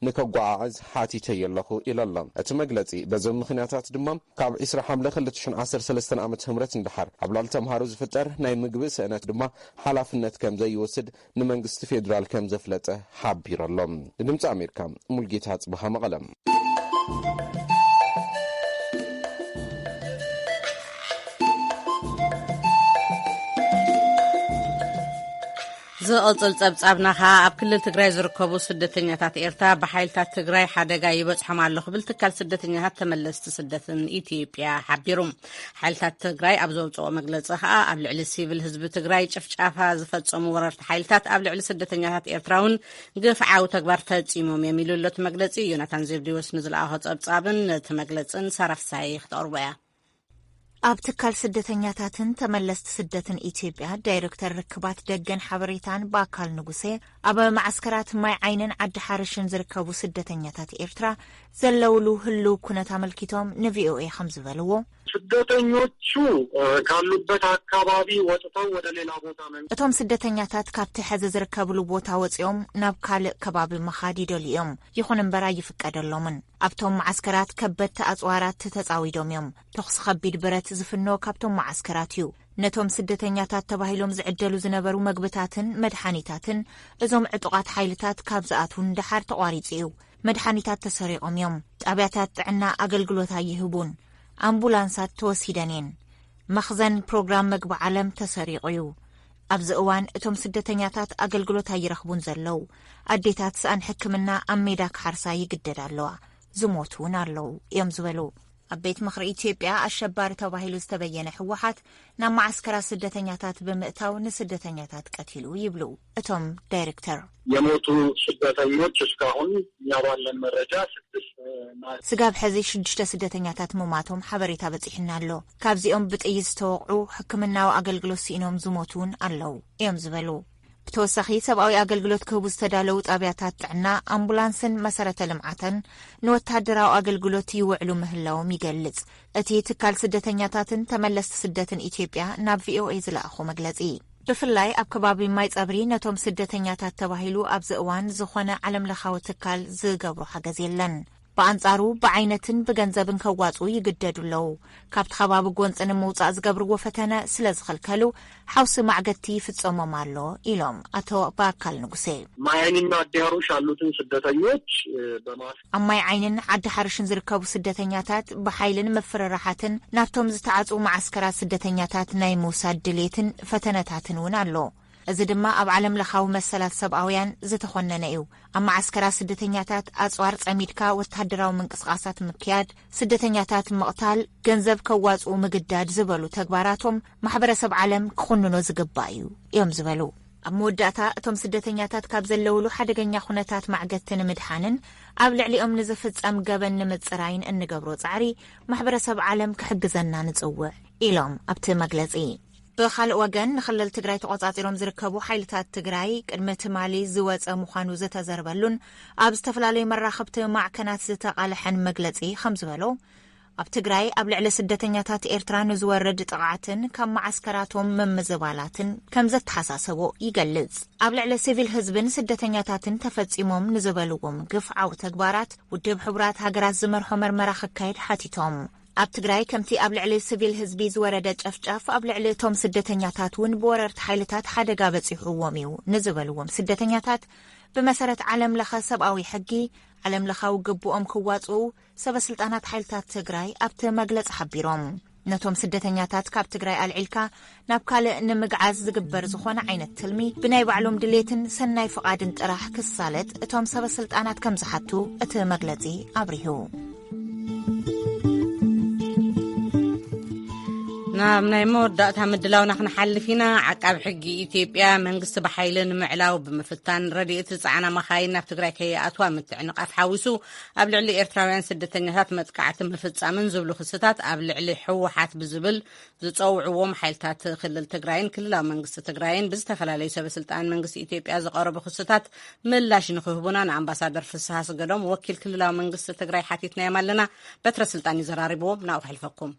ንከጓዓዕዝ ሓቲተዮ ኣለኹ ኢሉ ኣሎ። እቲ መግለጺ በዞም ምኽንያታት ድማ ካብ ዕስራ ሓምለ ክልተ ሽሕ ዓሰርተ ሰለስተ ዓመተ ምህረት ንደሓር ኣብ ልዕሊ ተምሃሮ ዝፍጠር ናይ ምግቢ ስእነት ድማ ሓላፍነት ከምዘይወስድ ንመንግስቲ ፌድራል ከምዘፍለጠ ሓቢሩ ኣሎ። ንድምጺ ኣሜሪካ ሙልጌታ ኣጽብሃ መቐለ። ዝቕፅል ፀብፃብና ከዓ ኣብ ክልል ትግራይ ዝርከቡ ስደተኛታት ኤርትራ ብሓይልታት ትግራይ ሓደጋ ይበፅሖም ኣሎ ክብል ትካል ስደተኛታት ተመለስቲ ስደትን ኢትዮጵያ ሓቢሩ ሓይልታት ትግራይ ኣብ ዘውፅኦ መግለፂ ከዓ ኣብ ልዕሊ ሲቪል ህዝቢ ትግራይ ጭፍጫፋ ዝፈፀሙ ወረርቲ ሓይልታት ኣብ ልዕሊ ስደተኛታት ኤርትራ እውን ግፍዓዊ ተግባር ፈፂሞም እዮም ኢሉ ኣሎ እቲ መግለፂ ዮናታን ዜብዲዎስ ንዝለኣኾ ፀብፃብን ነቲ መግለፅን ሳራፍሳይ ክትቐርቦ እያ ኣብ ትካል ስደተኛታትን ተመለስቲ ስደትን ኢትዮጵያ ዳይረክተር ርክባት ደገን ሓበሬታን በኣካል ንጉሴ ኣብ መዓስከራት ማይ ዓይንን ዓዲ ሓርሽን ዝርከቡ ስደተኛታት ኤርትራ ዘለውሉ ህሉው ኩነት ኣመልኪቶም ንቪኦኤ ከምዚ በልዎ። ስደተኞቹ ካሉበት ኣካባቢ ወጥተው ወደ ሌላ ቦታ መን። እቶም ስደተኛታት ካብቲ ሐዚ ዝርከብሉ ቦታ ወፂኦም ናብ ካልእ ከባቢ ምኻድ ይደልዩ እዮም። ይኹን እምበር ኣይፍቀደሎምን። ኣብቶም መዓስከራት ከበድቲ ኣጽዋራት ተጻዊዶም እዮም። ተኹሲ ከቢድ ብረት ዝፍኖ ካብቶም መዓስከራት እዩ። ነቶም ስደተኛታት ተባሂሎም ዝዕደሉ ዝነበሩ መግብታትን መድሓኒታትን እዞም ዕጡቓት ሓይልታት ካብ ዝኣትዉ ንደሓር ተቋሪጹ እዩ። መድሓኒታት ተሰሪቖም እዮም። ጣብያታት ጥዕና ኣገልግሎት ኣይህቡን። ኣምቡላንሳት ተወሲደን እየን። መኽዘን ፕሮግራም መግቢ ዓለም ተሰሪቑ እዩ። ኣብዚ እዋን እቶም ስደተኛታት ኣገልግሎት ኣይረኽቡን ዘለዉ። ኣዴታት ስኣን ሕክምና ኣብ ሜዳ ክሓርሳ ይግደዳ ኣለዋ፣ ዝሞቱ እውን ኣለዉ እዮም ዝበሉ። ኣብ ቤት ምኽሪ ኢትዮጵያ ኣሸባሪ ተባሂሉ ዝተበየነ ህወሓት ናብ መዓስከራት ስደተኛታት ብምእታው ንስደተኛታት ቀቲሉ ይብሉ እቶም ዳይሬክተር። የሞቱ ስደተኞች እስካሁን እኛ ባለን መረጃ ስድስት ስጋብ ሕዚ ሽዱሽተ ስደተኛታት ምሟቶም ሓበሬታ በፂሑና ኣሎ። ካብዚኦም ብጥይት ዝተወቕዑ ሕክምናዊ ኣገልግሎት ስኢኖም ዝሞቱ እውን ኣለዉ እዮም ዝበሉ። ብተወሳኺ ሰብኣዊ ኣገልግሎት ክህቡ ዝተዳለዉ ጣብያታት ጥዕና፣ ኣምቡላንስን መሰረተ ልምዓተን ንወተሃደራዊ ኣገልግሎት ይውዕሉ ምህላዎም ይገልፅ እቲ ትካል ስደተኛታትን ተመለስቲ ስደትን ኢትዮጵያ ናብ ቪኦኤ ዝለኣኾ መግለፂ። ብፍላይ ኣብ ከባቢ ማይ ፀብሪ ነቶም ስደተኛታት ተባሂሉ ኣብዚ እዋን ዝኾነ ዓለም ለኻዊ ትካል ዝገብሮ ሓገዝ የለን። ብኣንጻሩ ብዓይነትን ብገንዘብን ከዋጽኡ ይግደዱ ኣለዉ። ካብቲ ከባቢ ጎንጺ ንምውጻእ ዝገብርዎ ፈተነ ስለ ዝኽልከሉ ሓውሲ ማዕገቲ ይፍጸሞም ኣሎ ኢሎም ኣቶ በኣካል ንጉሴ። ማይ ዓይኒና ዓዲ ሃሩሽ ኣሉትን ስደተኞች በማስክ። ኣብ ማይ ዓይኒን ዓዲ ሓሩሽን ዝርከቡ ስደተኛታት ብሓይልን ምፍርራሓትን ናብቶም ዝተዓጽዉ መዓስከራት ስደተኛታት ናይ ምውሳድ ድሌትን ፈተነታትን እውን ኣሎ። እዚ ድማ ኣብ ዓለም ለኻዊ መሰላት ሰብኣውያን ዝተኾነነ እዩ። ኣብ መዓስከራት ስደተኛታት ኣጽዋር ጸሚድካ ወተሃደራዊ ምንቅስቓሳት ምክያድ፣ ስደተኛታት ምቕታል፣ ገንዘብ ከዋጽኡ ምግዳድ ዝበሉ ተግባራቶም ማሕበረሰብ ዓለም ክኹንኖ ዝግባእ እዩ እዮም ዝበሉ። ኣብ መወዳእታ እቶም ስደተኛታት ካብ ዘለውሉ ሓደገኛ ኩነታት ማዕገቲ ንምድሓንን ኣብ ልዕሊኦም ንዝፍጸም ገበን ንምጽራይን እንገብሮ ጻዕሪ ማሕበረሰብ ዓለም ክሕግዘና ንጽውዕ ኢሎም ኣብቲ መግለጺ። ብኻልእ ወገን ንክልል ትግራይ ተቖፃፂሮም ዝርከቡ ሓይልታት ትግራይ ቅድሚ ትማሊ ዝወፀ ምዃኑ ዝተዘርበሉን ኣብ ዝተፈላለዩ መራኸብቲ ማዕከናት ዝተቓለሐን መግለፂ ከም ዝበሎ ኣብ ትግራይ ኣብ ልዕሊ ስደተኛታት ኤርትራ ንዝወርድ ጥቕዓትን ካብ መዓስከራቶም ምምዝባላትን ከም ዘተሓሳሰቦ ይገልጽ። ኣብ ልዕሊ ሲቪል ህዝብን ስደተኛታትን ተፈጺሞም ንዝበልዎም ግፍዓዊ ተግባራት ውድብ ሕቡራት ሃገራት ዝመርሖ መርመራ ክካየድ ሓቲቶም። ኣብ ትግራይ ከምቲ ኣብ ልዕሊ ስቪል ህዝቢ ዝወረደ ጨፍጫፍ ኣብ ልዕሊ እቶም ስደተኛታት እውን ብወረርቲ ሓይልታት ሓደጋ በፂሑዎም እዩ ንዝበልዎም ስደተኛታት ብመሰረት ዓለም ለኸ ሰብኣዊ ሕጊ ዓለም ለኻዊ ግብኦም ክዋፅኡ ሰበ ስልጣናት ሓይልታት ትግራይ ኣብቲ መግለፂ ሓቢሮም። ነቶም ስደተኛታት ካብ ትግራይ ኣልዒልካ ናብ ካልእ ንምግዓዝ ዝግበር ዝኾነ ዓይነት ትልሚ ብናይ ባዕሎም ድሌትን ሰናይ ፍቓድን ጥራሕ ክሳለጥ እቶም ሰበ ስልጣናት ከም ዝሓቱ እቲ መግለጺ ኣብሪሁ። ናብ ናይ መወዳእታ ምድላውና ክንሓልፍ ኢና ዓቃብ ሕጊ ኢትዮጵያ መንግስቲ ብሓይሊ ንምዕላው ብምፍታን ረድኤት ዝፀዓና መኻይን ናብ ትግራይ ከይኣትዋ ምትዕንቓፍ ሓዊሱ ኣብ ልዕሊ ኤርትራውያን ስደተኛታት መጥቃዕቲ ምፍፃምን ዝብሉ ክስታት ኣብ ልዕሊ ሕወሓት ብዝብል ዝፀውዕዎም ሓይልታት ክልል ትግራይን ክልላዊ መንግስቲ ትግራይን ብዝተፈላለዩ ሰበስልጣን መንግስቲ ኢትዮጵያ ዝቐረቡ ክስታት ምላሽ ንክህቡና ንኣምባሳደር ፍስሃ ስገዶም ወኪል ክልላዊ መንግስቲ ትግራይ ሓቲትናዮም ኣለና በትረ ስልጣን እዩ ዘራሪብዎም ናብኡ ከሕልፈኩም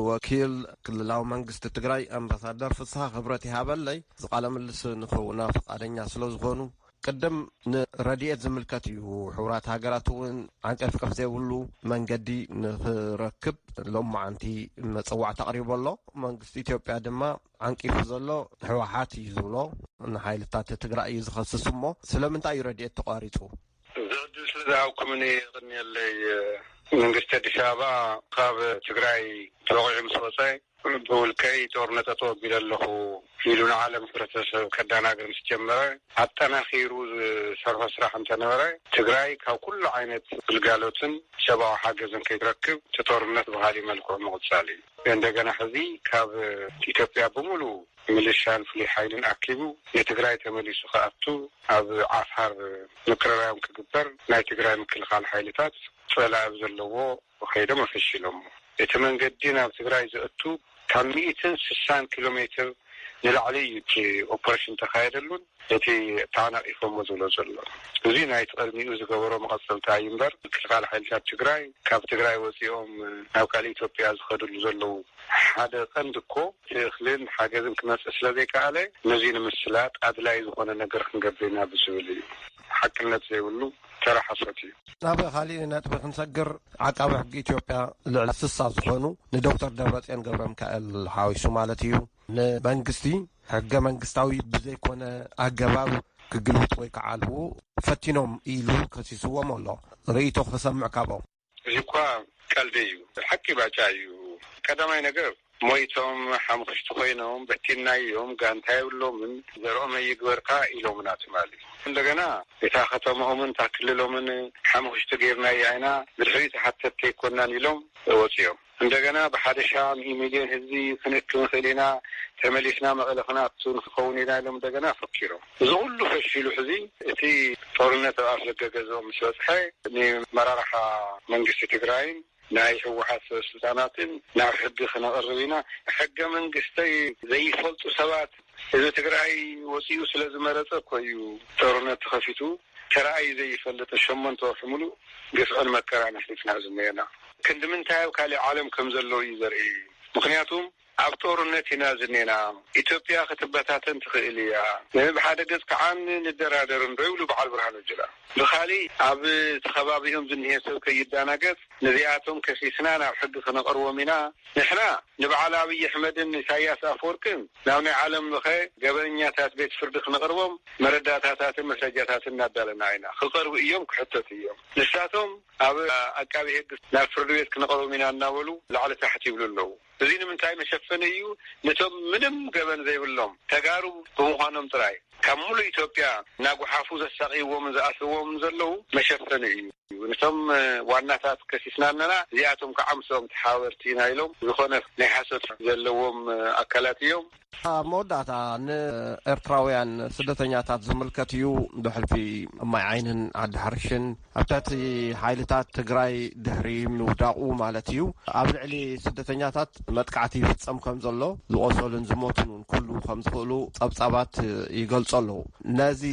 ወኪል ክልላዊ መንግስቲ ትግራይ ኣምባሳደር ፍስሃ ክብረት ይሃበለይ ዝቃለ ምልስ ንክህቡና ፈቃደኛ ስለዝኾኑ ቅድም ንረድኤት ዝምልከት እዩ። ሕቡራት ሃገራት እውን ዓንቀፍቀፍ ዘይብሉ መንገዲ ንክረክብ ሎማዓንቲ መፀዋዕታ ኣቕሪቡ ኣሎ። መንግስቲ ኢትዮጵያ ድማ ዓንቂፉ ዘሎ ህወሓት እዩ ዝብሎ ንሓይልታት ትግራይ እዩ ዝኸስስ እሞ ስለምንታይ እዩ ረድኤት ተቋሪፁ? እዚ ዕድል ስለ ዝሃብኩምኒ የቕንየለይ። መንግስቲ ኣዲስ ኣበባ ካብ ትግራይ ተወቒዑ ምስ ወፀ ብውልቀይ ጦርነት ኣተወጊደ ኣለኹ ኢሉ ንዓለም ሕብረተሰብ ከዳናግር ምስ ጀመረ ኣጠናኺሩ ዝሰርሖ ስራሕ እንተነበረ ትግራይ ካብ ኩሉ ዓይነት ግልጋሎትን ሰብኣዊ ሓገዝን ከይትረክብ እቲ ጦርነት ብኻሊእ መልክዑ ምቕፃል እዩ። እንደገና ሕዚ ካብ ኢትዮጵያ ብሙሉ ምልሻን ፍሉይ ሓይልን ኣኪቡ ንትግራይ ተመሊሱ ክኣቱ ኣብ ዓፋር ምቅርራዮም ክግበር ናይ ትግራይ ምክልኻል ሓይልታት ፀላኢ ብዘለዎ ከይዶም ኣፈሺሎሞ። እቲ መንገዲ ናብ ትግራይ ዘእቱ ካብ ሚእትን ስሳን ኪሎ ሜትር ንላዕሊ እዩ እቲ ኦፕሬሽን ተኻየደሉን እቲ ተዓናቒፎሞ ዝብሎ ዘሎ። እዙይ ናይቲ ቕድሚኡ ዝገበሮ መቐፀልታ እዩ እምበር ምክልኻል ሓይልታት ትግራይ ካብ ትግራይ ወፂኦም ናብ ካልእ ኢትዮጵያ ዝኸድሉ ዘለዉ ሓደ ቐንዲ እኮ እቲ እኽልን ሓገዝን ክመፅእ ስለዘይከኣለ ነዙይ ንምስላጥ ኣድላይ ዝኾነ ነገር ክንገብር ኢና ብዝብል እዩ። ሓቅነት ዘይብሉ ተራ ሓሶት እዩ። ናብ ካሊእ ነጥቢ ክንሰግር ዓቃቢ ሕጊ ኢትዮጵያ ልዕሊ ስሳ ዝኾኑ ንዶክተር ደብረፅዮን ገብረሚካኤል ሓዊሱ ማለት እዩ ንመንግስቲ ሕገ መንግስታዊ ብዘይኮነ ኣገባብ ክግልብጥዎ ይከዓልዎ ፈቲኖም ኢሉ ከሲስዎም ኣሎ ርእይቶ ክሰምዕ ካብኦም። እዚ እኳ ቀልዲ እዩ ሓቂ ባጫ እዩ ቀዳማይ ነገር ሞይቶም ሓምኽሽቲ ኮይኖም በቲንናዮም ጋንታ የብሎምን ዘርኦም ኣይግበርካ ኢሎምና ትማሊ እንደገና እታ ከተምኦምን እታ ክልሎምን ሓምኽሽቲ ገይርናያ ኢና ብድሕሪኡ ተሓተቲ ኣይኮናን ኢሎም ወፂኦም። እንደገና ብሓደሻ ሚእ ሚልዮን ህዝቢ ክንእክብ ንኽእል ኢና፣ ተመሊስና መቐለ ክንኣቱ ንክኸውን ኢና ኢሎም እንደገና ፈኪሮም። እዚ ኹሉ ፈሺሉ ሕዚ እቲ ጦርነት ኣብ ኣፍደገ ገዝኦም ምስ በፅሐ ንመራርሓ መንግስቲ ትግራይን ናይ ህወሓት ሰበስልጣናትን ናብ ሕጊ ክነቕርብ ኢና፣ ሕገ መንግስተይ ዘይፈልጡ ሰባት ህዝቢ ትግራይ ወፂኡ ስለ ዝመረፀ እኮ እዩ ጦርነት ተኸፊቱ ተራኣዩ ዘይፈልጥን ሸሞንተ ወርሒ ሙሉእ ግፍዕን መከራን ኣሕሊፍና ዝኔና ክንዲ ምንታይ ኣብ ካሊእ ዓለም ከም ዘለው እዩ ዘርኢ ምኽንያቱም ኣብ ጦርነት ኢና ዝኔና ኢትዮጵያ ክትበታተን ትኽእል እያ ብሓደ ገፅ ከዓ ንደራደር እንዶ ይብሉ በዓል ብርሃኑ ጁላ ብኻሊእ ኣብቲ ኸባቢኦም ዝኒሀ ሰብ ከይዳናገፅ ነዚኣቶም ከሲስና ናብ ሕጊ ክነቕርቦም ኢና። ንሕና ንበዓል ኣብይ ኣሕመድን ንኢሳያስ ኣፍወርቅን ናብ ናይ ዓለም ለኸ ገበነኛታት ቤት ፍርዲ ክነቕርቦም መረዳእታታትን መስረጃታትን እናዳለና ኢና። ክቐርቡ እዮም፣ ክሕተቱ እዮም። ንሳቶም ኣብ ኣቃቤ ህግ ናብ ፍርዲ ቤት ክነቕርቦም ኢና እናበሉ ላዕሊ ታሕቲ ይብሉ ኣለዉ። እዚ ንምንታይ መሸፈኒ እዩ ንቶም ምንም ገበን ዘይብሎም ተጋሩ ብምዃኖም ጥራይ ካብ ሙሉእ ኢትዮጵያ ናጉሓፉ ዘሳቅይዎምን ዝኣስርዎምን ዘለዉ መሸፈኒ እዩ ንቶም ዋናታት ከሲስና ኣለና እዚኣቶም ካዓ ምስኦም ተሓባበርቲ ኢና ኢሎም ዝኾነ ናይ ሓሶት ዘለዎም ኣካላት እዮም። ኣብ መወዳእታ ንኤርትራውያን ስደተኛታት ዝምልከት እዩ ብሕልፊ ማይ ዓይንን ዓዲ ሓርሽን ኣብ ትሕቲ ሓይልታት ትግራይ ድሕሪ ምውዳቑ ማለት እዩ ኣብ ልዕሊ ስደተኛታት መጥቃዕቲ ይፍፀም ከም ዘሎ ዝቖሰሉን ዝሞቱን እውን ክህልዉ ከም ዝኽእሉ ጸብጻባት ይገልጾ ኣለዉ ነዚ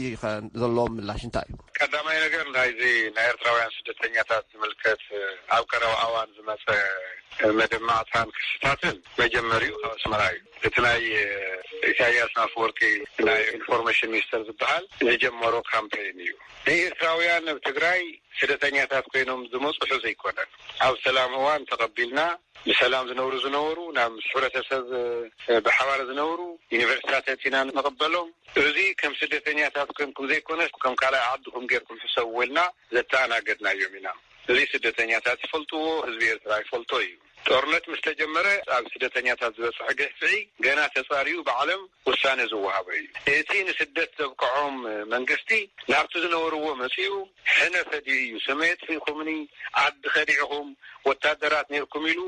ዘለዎ ምላሽ እንታይ እዩ ቀዳማይ ነገር ናይዚ ናይ ኤርትራውያን ስደተኛታት ዝምልከት ኣብ ቀረባ እዋን ዝመፀ መደማዕታን ክስታትን መጀመሪኡ ካብ ኣስመራ እዩ እቲ ናይ ኢሳያስ ኣፍወርቂ ናይ ኢንፎርመሽን ሚኒስተር ዝብሃል ዝጀመሮ ካምፐይን እዩ ንኤርትራውያን ኣብ ትግራይ ስደተኛታት ኮይኖም ዝመጹሑ ዘይኮነን ኣብ ሰላም እዋን ተቀቢልና ብሰላም ዝነብሩ ዝነበሩ ናብ ምስ ሕብረተሰብ ብሓባር ዝነብሩ ዩኒቨርሲታት ኣእቲና ንቅበሎም እዚ ከም ስደተኛታት ኮንኩም ዘይኮነስ ከም ካልኣይ ዓድኩም ጌርኩም ሕሰብዎ ኢልና ዘተኣናገድናዮም ኢና እዚ ስደተኛታት ይፈልጥዎ ህዝቢ ኤርትራ ይፈልጦ እዩ። ጦርነት ምስ ተጀመረ ኣብ ስደተኛታት ዝበፅሐ ግህፍዒ ገና ተፃርዩ ብዓለም ውሳነ ዝወሃቦ እዩ። እቲ ንስደት ዘብቀዖም መንግስቲ ናብቲ ዝነበርዎ መፂኡ ሕነ ፈዲዩ እዩ ስመ የጥፊእኹምኒ፣ ዓዲ ከዲዕኹም፣ ወታደራት ነይርኩም ኢሉ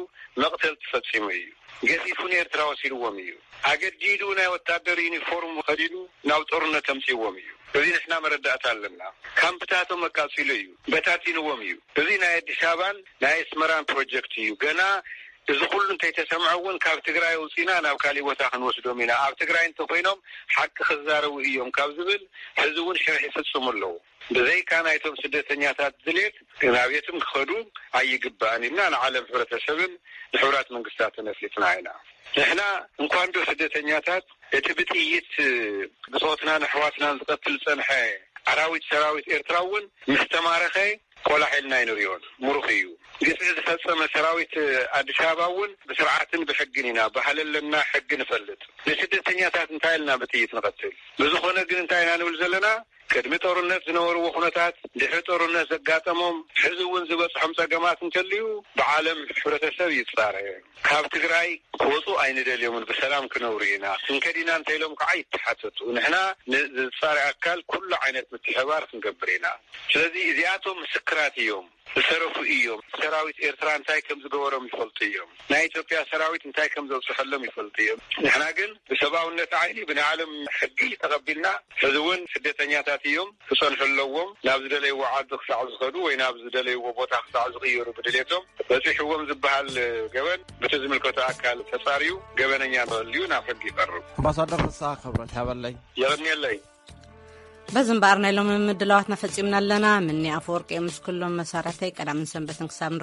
መቕተልቲ ፈፂሙ እዩ። ገፊፉ ንኤርትራ ወሲድዎም እዩ። ኣገዲዱ ናይ ወታደር ዩኒፎርም ከዲኑ ናብ ጦርነት ኣምፂእዎም እዩ። እዚ ንሕና መረዳእታ ኣለና። ካምፕታቶም ኣቃፂሉ እዩ። በታቲንዎም እዩ። እዚ ናይ ኣዲስ ኣበባን ናይ ኣስመራን ፕሮጀክት እዩ ገና እዚ ኩሉ እንተይተሰምዐ እውን ካብ ትግራይ ኣውፂእና ናብ ካሊእ ቦታ ክንወስዶም ኢና ኣብ ትግራይ እንተኾይኖም ሓቂ ክዛረቡ እዮም ካብ ዝብል ሕዚ እውን ሽርሒ ይፍፅሙ ኣለው ብዘይካ ናይቶም ስደተኛታት ድሌት ናብ የትም ክኸዱ ኣይግባእን ኢልና ንዓለም ሕብረተሰብን ንሕቡራት መንግስታትን ኣፍሊጥና ኢና ንሕና እንኳን ዶ ስደተኛታት እቲ ብጥይት ብፆትናን ኣሕዋትናን ዝቐትል ዝፀንሐ ኣራዊት ሰራዊት ኤርትራ እውን ምስ ተማረኸ ቆላሕ ኢልና ኣይንሪኦን ሙሩኽ እዩ። ግፍዒ ዝፈፀመ ሰራዊት ኣዲስ ኣበባ እውን ብስርዓትን ብሕግን ኢና በሃሊ ኣለና ሕጊ ንፈልጥ ንስደተኛታት እንታይ ኢልና ብጥይት ንቐትል ብዝኾነ ግን እንታይ ኢና ንብል ዘለና ቅድሚ ጦርነት ዝነበርዎ ኩነታት ድሕሪ ጦርነት ዘጋጠሞም ሕዚ እውን ዝበፅሖም ፀገማት እንተልዩ ብዓለም ሕብረተሰብ ይፃረ። ካብ ትግራይ ክወፁ ኣይንደልዮምን ብሰላም ክነብሩ ኢና ክንከድ ኢና እንተኢሎም ከዓ ይተሓተቱ ንሕና ንዝፃሪ ኣካል ኩሉ ዓይነት ምትሕብባር ክንገብር ኢና ስለዚ እዚኣቶም ምስክራት እዮም ዝተረፉ እዮም ሰራዊት ኤርትራ እንታይ ከምዝገበሮም ይፈልጡ እዮም ናይ ኢትዮጵያ ሰራዊት እንታይ ከምዘብፅሐሎም ይፈልጡ እዮም ንሕና ግን ብሰብኣውነት ዓይኒ ብናይ ዓለም ሕጊ ተቐቢልና ሕዚ እውን ስደተኛታት እዮም ክጸንሑ ኣለዎም፣ ናብ ዝደለይዎ ዓዲ ክሳዕ ዝኸዱ ወይ ናብ ዝደለይዎ ቦታ ክሳዕ ዝቕየሩ ብድሌቶም በጺሕዎም ዝበሃል ገበን በቲ ዝምልከቶ ኣካል ተጻርዩ ገበነኛ እንተልዩ ናብ ሕጊ ይቐርብ። ኣምባሳደር ፍስሃ ክብረት ያበለይ። የቕንየለይ። በዚ እምበኣር ናይ ሎሚ ምድላዋትና ፈጺምና ኣለና። ምኒ ኣፈወርቂ እየ ምስ ኩሎም መሳርሕተይ ቀዳምን ሰንበትን ክሳብ